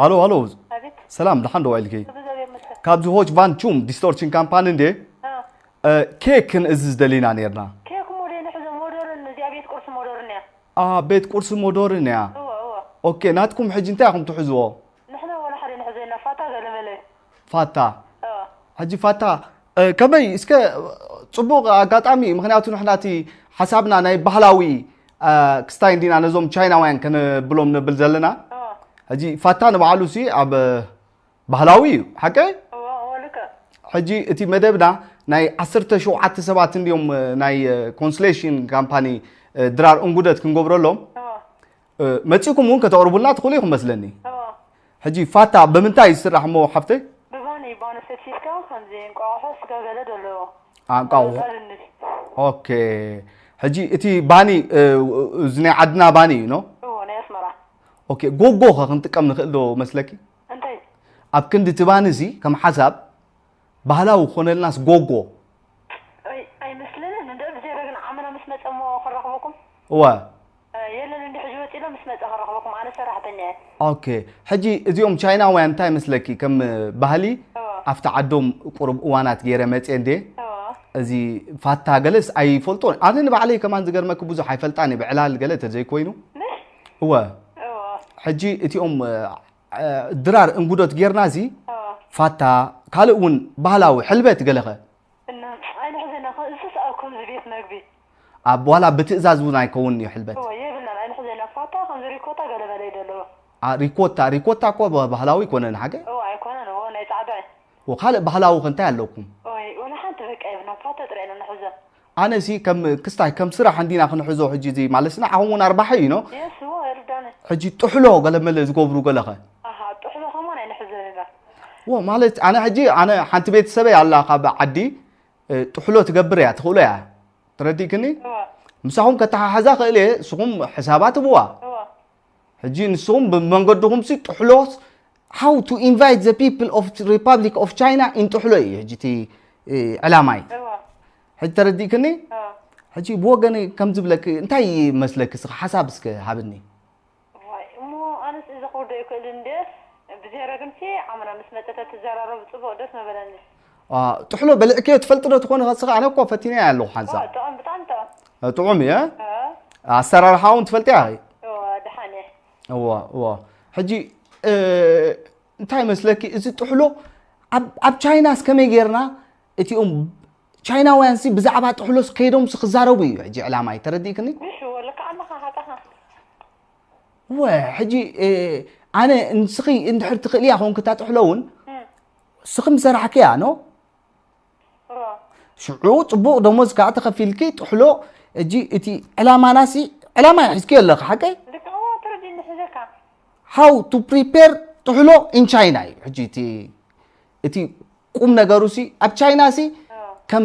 ሃሎ ሃሎ ሰላም ደሓን ዶ ዋኢልኪ ካብዚ ሆች ቫን ቹም ዲስቶርሽን ካምፓኒ እንዴ ኬክ ክንእዝዝ ደሊና ነርና ቤት ቁርሲ ሞዶርን እያ ኦኬ ናትኩም ሕጂ እንታይ ኢኹም ትሕዝዎ ፋታ ሕጂ ፋታ ከመይ እስከ ፅቡቅ ኣጋጣሚ እዩ ምክንያቱ ንሕና እቲ ሓሳብና ናይ ባህላዊ ክስታይ እንዲና ነዞም ቻይናውያን ከነብሎም ነብል ዘለና ሕጂ ፋታ ንባዕሉ ሲ ኣብ ባህላዊ እዩ ሓቀይ ሕጂ እቲ መደብና ናይ 17 ሰባት እንዲዮም ናይ ኮንስሌሽን ካምፓኒ ድራር እንጉደት ክንገብረሎም መጺኩም እውን ከተቕርቡልና ትኽእሉ ኢኹም መስለኒ ሕጂ ፋታ ብምንታይ እዩ ዝስራሕ እሞ ሓፍተይ ብባኒ ባኒ ፈትፊትካ ከምዚ እንቋቑሖ ስጋ ገለ ደለዎ ኣንቋቑሖ ኦኬ ሕጂ እቲ ባኒ እዚ ናይ ዓድና ባኒ እዩ ኖ ናይ ኣስመራ ኦኬ ጎጎ ከ ክንጥቀም ንኽእል ዶ መስለኪ እንታይ ኣብ ክንዲ እቲ ባኒ እዚ ከም ሓሳብ ባህላዊ ክኾነልናስ ጎጎ። ኣይ ኣይመስለንን እንድዒ ብጀረግና ዓመና ምስ መጸ እሞ ክንረኽበኩም። እወ። የለን እንድዒ ሕጂ ወጺ ኣሎ ምስ መጸ ክንረኽበኩም ኣነ ሰራሕተኛ እየ። ኦኬ ሕጂ እዚኦም ቻይናውያን እንታይ መስለኪ ከም ባህሊ ኣብቲ ዓዶም ቁሩብ እዋናት ጌረ መጼ እንዴ እዚ ፋታ ገለስ ኣይፈልጦን ኣነ ንባዕለይ ከማን ዝገርመኪ ብዙሕ ኣይፈልጣን እየ ብዕላል ገለ ተዘይኮይኑ። እወ ሕጂ እቲኦም ድራር እንጉዶት ጌርና እዚ ፋታ ካልእ እውን ባህላዊ ሕልበት ገለኸ ኣብ ዋላ ብትእዛዝ እውን ኣይከውን እዩ ሕልበት ሪኮታ ሪኮታ እኮ ባህላዊ ኣይኮነን ሓገ ካልእ ባህላዊ ከ እንታይ ኣለኩም ኣነ ሲ ከም ክስታይ ከም ስራሕ እንዲና ክንሕዞ ሕጂ እዚ ማለት ስና ዓኹም እውን ኣርባሒ እዩ ኖ የሱ እርዳነ ሕጂ ጥሕሎ ገለመለ ዝገብሩ ገለኸ ኣሃ ጥሕሎ ከሞ ናይ ንሕዘን ኢና ወ ማለት ኣነ ሕጂ ኣነ ሓንቲ ቤተሰበይ ኣላ ካብ ዓዲ እ፣ ጥሕሎ ትገብር እያ ትኽእሎ እያ ተረዲእክኒ እወ ምሳኹም ከተሓሓዛ ክእል እየ ንስኹም ሕሳባት ህብዋ እወ ሕጂ ንስኹም ብመንገድኹምሲ ጥሕሎስ how to invite the people of Republic of China in ጥሕሎ እዩ ሕጂ እቲ ዕላማይ ሕጂ ተረዲእክኒ ሕጂ ብወገን ከም ዝብለክ እንታይ መስለክ ስኻ ሓሳብ እስከ ሃብኒ እሞ ኣነስ እዚ ክውርዶ ይክእል እንደ ብዘረግንሲ ዓምና ምስ መጠተ ትዘራረቡ ጽቡቅ ደስ መበለኒ ጥሕሎ በልዕክዮ ትፈልጥ ዶ ትኾን ኸስኻ ኣነ እኮ ፈቲነያ ኣለኹ ሓንሳብ ጥዑም ብጣዕሚ ጥዑም ጥዑም እየ ኣሰራርሓ እውን ትፈልጥያ ኸ ድሓን እየ እወ እወ ሕጂ እንታይ መስለኪ እዚ ጥሕሎ ኣብ ቻይናስ ከመይ ጌርና እቲኦም ቻይናውያን ሲ ብዛዕባ ጥሕሎስ ከይዶም ሲ ክዛረቡ እዩ ሕጂ ዕላማይ ተረዲእክኒ ወ ሕጂ ኣነ ንስኺ እንድሕር ትኽእልያ ኮንክታ ጥሕሎ እውን ንስኺ ምስ ሰራሕኪ እያ ኖ ሽዑ ፅቡቕ ደሞዝ ከዓ ተኸፊልኪ ጥሕሎ እጂ እቲ ዕላማናሲ ዕላማ እያ ሒዝኪ ኣለኺ ሓቀይ ሃው ቱ ፕሪፔር ጥሕሎ ኢን ቻይና እዩ ሕጂ እቲ እቲ ቁም ነገሩሲ ኣብ ቻይናሲ ከም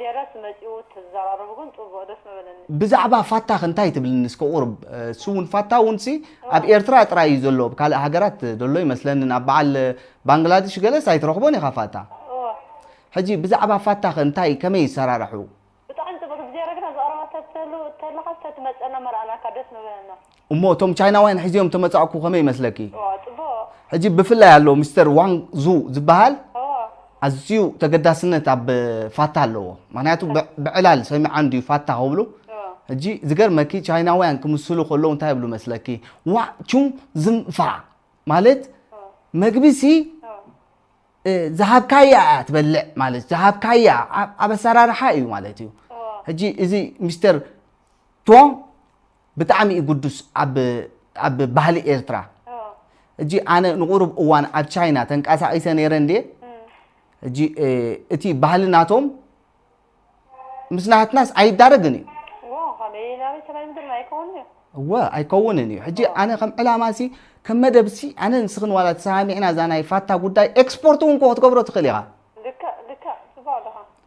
ዜረስ መጺኡ ተዘራረቡ ግን ጹቡቅ ደስ ምበለኒ። ብዛዕባ ፋታኽ እንታይ ትብልኒ እስከ ቁሩብ ስውን ፋታ ውንሲ ኣብ ኤርትራ ጥራይ እዩ ዘሎ ኣብ ካልእ ሃገራት ደሎ ኣይመስለንን ኣብ በዓል ባንግላድሽ ገለስ ኣይትረኽቦን ኢኻ ፋታ እወ ሕጂ ብዛዕባ ፋታኽ እንታይ ከመይ ይሰራራሑ። ብጣዕሚ ጽብቅ ዜረ ግና ዝቀረባ ተትህሉ ተለኻስ ተትመጸና መርኣናካ ደስ ምበለና። እሞ እቶም ቻይናውያን ሒዜዮም ተመጻእኩ ከመይ ይመስለኪ? ኦዎ ጽቡቅ። ሕጂ ብፍላይ ኣሎ ሚስተር ዋንግ ዙ ዝብሃል ኦዎ። ኣዝዩ ተገዳስነት ኣብ ፋታ ኣለዎ ምክንያቱ ብ ብዕላል ሰሚዓ እንድዩ ፋታ ክብሉ ኦዎ። ሕጂ ዝገርመኪ ቻይናውያን ክምስሉ ከለዉ እንታይ ይብሉ መስለኪ ዋእ ቹንግ ዝንግ ፋ ማለት ኦዎ። መግቢ ሲ ኦዎ። እ ዝሃብካያ እያ ትበልዕ ማለት ዝሃብካያ ኣብ ኣብ ኣሰራርሓ እዩ ማለት እዩ ኦዎ። ሕጂ እዚ ሚስተር ቶንግ ብጣዕሚ እዩ ግዱስ ኣብ ኣብ ባህሊ ኤርትራ እጂ ኣነ ንቑሩብ እዋን ኣብ ቻይና ተንቀሳቒሰ ነይረ እንዴ እጂ እቲ ባህሊ ናቶም ምስ ናትናስ ኣይዳረግን እዩ እወ ኣይከውንን እዩ ሕጂ ኣነ ከም ዕላማ ሲ ከም መደብ ሲ ኣነ ንስኽን ዋላ ተሰማሚዕና እዛ ናይ ፋታ ጉዳይ ኤክስፖርት እውን ክትገብሮ ትኽእል ኢኻ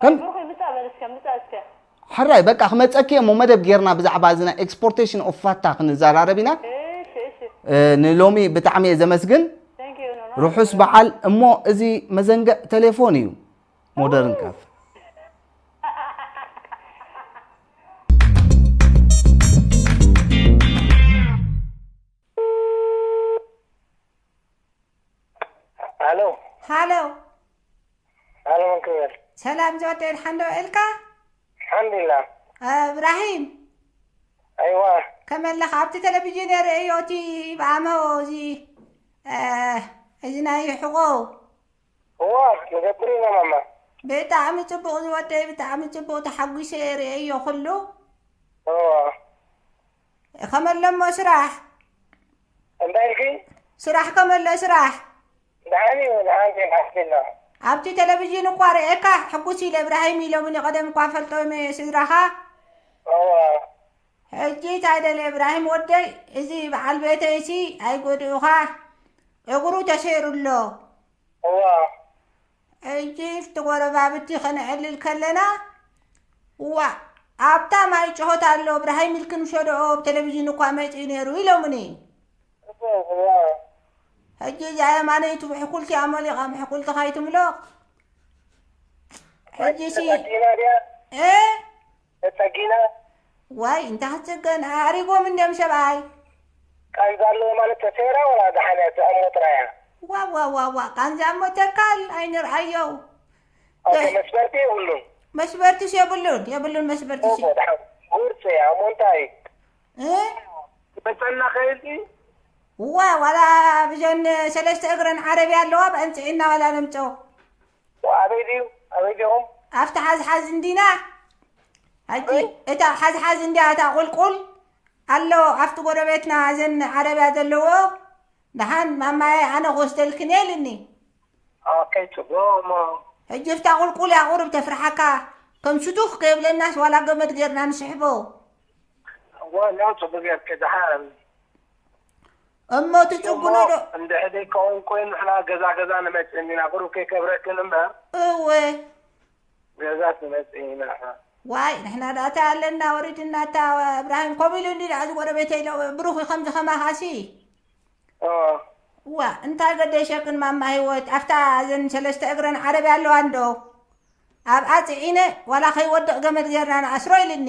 ከም ብሩኸይ ምጻእ በል እስከ ምጻእ እስከ። ሕራይ በቃ ክመጸኪ እሞ መደብ ጌርና ብዛዕባ እዚ ናይ ኤክስፖርቴሽን ኦፍ ፋታ ክንዘራረብ ኢና እሺ እሺ እ፣ ንሎሚ ብጣዕሚ እየ ዘመስግን ቴንክ ዩ ኖኖ ርሑስ በዓል እሞ እዚ መዘንግዕ ቴሌፎን እዩ ሞደርን ካፍ ኣሎ ሃሎ ኣነ መን ክብል። ሰላም ጆርጆ ድሓን ዶ ውዒልካ? ኣልሓምዱሊላህ። እብራሂም። ኣይዋ። ከመይ ኣለኻ? ኣብቲ ተለቪዥን እየ ርእየዮ እቲ ብኣመ እዚ እዚ ናይ ሕቖ። እወ ንገብር ኢና ማማ። ብጣዕሚ ጽቡቕ ዝወደይ ብጣዕሚ ጽቡቕ ተሓጒሰ እየ ርእየዮ ኩሉ። እወ። ከመ ኣሎ እሞ ስራሕ እንታይ ኢልኪ? ስራሕ ከመ ኣሎ ስራሕ ደሓን እዩ ደሓን እዩ ኣልሓምዱሊላህ። ኣብቲ ቴሌቭዥን እኳ ርእየካ ሕጉስ ኢለ እብራሂም ኢሎምኒ ቀደም እኳ ፈልጦ እመ ስድራኻ እወ ሕጂ እንታይ ደለ እብራሂም ወደይ እዚ በዓል ቤተይሲ ኣይጎድኡኻ እግሩ ተሰይሩ ኣሎ እወ ሕጂ ፍቲ ጎረባብቲ ከነዕልል ከለና ዋእ ኣብታ ማይ ጭሆት ኣሎ ብርሃይ ሚልክ ንሸደኦ ኣብ ቴሌቪዥን እኳ መጺኡ ነይሩ ኢሎምኒ ሕጂ እዛ የማነይቲ ብሕኩልቲ ኣመሊቓ ምሕኩልቲ ካይትምሎቕ ሕጂሲ እ ተጸጊነ። ዋይ እንታይ ክትጽገን ኣዕሪጎም እንድዮም ሰብኣይ። ቃንዛ ኣለዎ ማለት ተሰይራ ወላ ደሓንያ ዝኣሞ ጥራይ እያ። ዋዋዋዋ ቃንዛ እሞ ተካል ኣይንርኣዮ ኦኬ ገ መስበርቲ የብሉን። መስበርትስ የብሉን የብሉን መስበርትሲ። ኦሆ ደሓን ጉርጽ እያ እሞ እንታይ እ ትመጸና ከይልቲ። ዋይ ዋላ ብዘን ሰለስተ እግረን ዓረብያ ኣለዋ በኣን ጽዒንና ዋላ ነምጽኦ። ዋእ ኣበይ ድዩ ኣበይ ዲኹም? ኣብቲ ሓዝሓዝ እንዲና ሕጂ እታ ሓዝሓዝ እንዲያ እታ ቁልቁል ኣሎ ኣብቲ ጎረቤትና እዘን ዓረብያ ዘለዎ ደሓን ማማየ ኣነ ክወስደልክን ኢልኒ ኦኬ ጽቡቕ ሕጂ ብታ ቁልቁል እያ ቁርብ ተፍርሓካ ከም ሽቱኽ ከይብለናስ ዋላ ገመድ ጌርና ንስሕቦ ዋላ ጽቡቕ ጌርክ ደሓን እሞ እቲ ጭጉኖ ዶ እንድሕ ዘይከውን ኮይኑ ንሕና ገዛ ገዛ ንመጽእ እንዲና ቁሩብ ከይከብረክን እምበር እወ ገዛስ ንመጽእ ኢና ንሕና ዋይ ንሕና ዳ እታ ኣለና ወሪድና እታ እብራሂም ከምኡ ኢሉ እንዲ እዚ ጎረቤተይ ኢሎ ብሩኽ ከምዚ ከማኻሲ ኦ ዋ እንታይ ገደሸክን ማማ ህይወት ኣብታ እዘን ሰለስተ እግረን ዓረብያ ኣለዋ እንዶ ኣብኣ ፅዒነ ዋላ ከይወድቕ ገመድ ጌርና ንኣስሮ ኢልኒ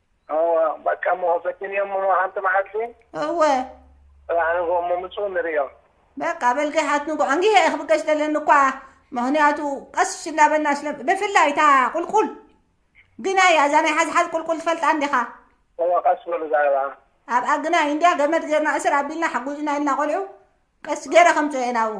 እወ በቃ እሞ በዲንዮም እሞ ሓንቲ መዓልቲ እወ ፅባሕ ንግሆ እሞ ምፅኡ ንርእዮም በቃ በል ገሓት ንግሆ ኣንጊሀ እየ ክብገስ ደለኒ እኳ ምክንያቱ ቀስ እናበልና ስለ ብፍላይ እታ ቁልቁል ግናይ እያ እዛ ናይ ሓዝሓዝ ቁልቁል ትፈልጣ እንዲኻ እወ ቀስ በሉ ዛዕባ ኣብኣ ግናይ እንድያ ገመድ ጌርና እስር ኣቢልና ሓጉዝና ኢልና ቆልዑ ቀስ ጌረ ከምፅኦ እየ ናብኡ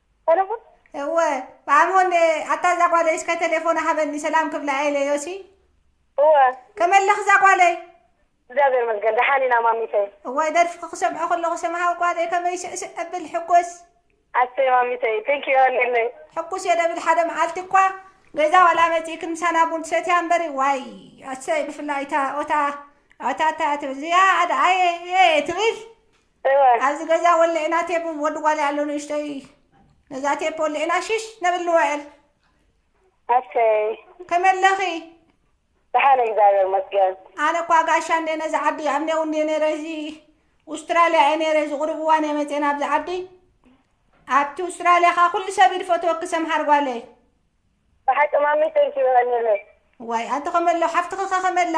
ሰለሙን እወ ማሙን ኣታ እዛ ጓለይ እስከ ቴሌፎና ሃበኒ ሰላም ክብላ ኢለ ዮሲ እወ ከመይ ኣለኺ እዛ ጓለይ እግዚኣብሔር ይመስገን ደሓን ኢና ማሚተይ እዋይ ደርፍኺ ክሰምዖ ከለኹ ሰምሃዊ ጓለይ ከመይ ስዕስዕ እብል ሕጎስ ኣሰይ ማሚተይ ቴንኪ ዮሃንለይ ሕጉስ እየ ደብል ሓደ መዓልቲ እኳ ገዛ ዋላ መፂእክን ምሳና ቡን ትሰትያ እምበሪ ዋይ ኣሰይ ብፍላይ እታ ኦታ ኣታ እታ እዚኣ ኣደ ኣየ ትብል እወ። ኣብዚ ገዛ ወሊዕና ቴፕ ወዲ ጓልይ ኣሎ ንእሽቶይ ነዛ ቴፕ ወሊዕና ሽሽ ነብል ንውዕል ኣሰይ ከመይ ኣለኺ ደሓን እግዚኣብሔር ይመስገን። ኣነ እኳ ጋሻ እንዴ ነዚ ዓዲ ኣብ ኔው እንዴ ነረ እዚ ኡስትራልያ እየ ነረ እዚ ቁሩብ እዋን እየ መፅኤ ናብዚ ዓዲ ኣብቲ ኡስትራልያ ኸዓ ኩሉ ሰብ እዩ ዝፈትወኪ ሰምሃር ጓለይ ብሓቂ ማሚ ተንኪ ይቀኒለይ ዋይ ኣንቲ ከመሎ ሓፍትኺ ከ ከመላ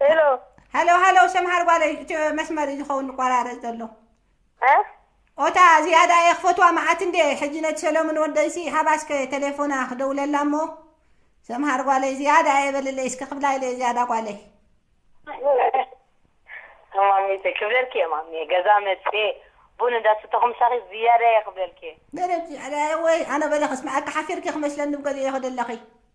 ሄሎ ሃሎ ሃሎ ሰምሃር ጓለይ እቲ መስመር እዩ ዝኸውን ዝቆራረፅ ዘሎ እ? ኦታ ዝያዳ እየ ክፈትዋ መዓት እንዴ ሕጂ ነቲ ሰለሙን ወደይሲ ሃባስከ ቴሌፎና ክደውለላ እሞ ሰምሃር ጓለይ ዝያዳ እየ በልለይ እስከ ክብላ ኢለ ዝያዳ ጓለይ ማሚየ ክብለልኪ እየ ማሚየ ገዛ መፅየ ቡን እንዳሰተኹ ምሳኺ ዝያዳ እየ ክብለልኪ እየ ገለ ዝያዳ እየ ወይ ኣነ በለ ክስምዐካ ሓፊርኪ ክመስለኒ ብገሊኡ እየ ክደለኺ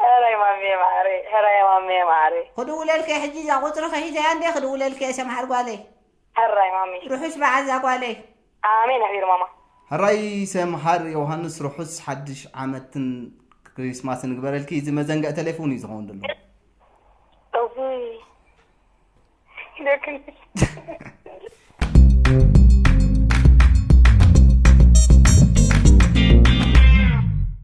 ሀራይ ማሚየ ማዓረይ ሀራይ ማሚየ ማዓረይ። ክድውለልኪ'የ ሕጂ እዛ ቁጽርኺ ሒዘያ እንድየ ክድውለልኪ'የ ሰምሃር ጓለይ። ሀራይ ማሚየ። ርሑስ በዓል ዛጓለይ። ኣሜን ኣሜን ማማ። ሕራይ ሰምሃር ዮውሃንስ ርሑስ ሓድሽ ዓመትን ክሪስማስን ይግበረልኪ እዚ መዘንግዒ ተሌፎን እዩ ዝኸውን ደሎ። እውይ ደክም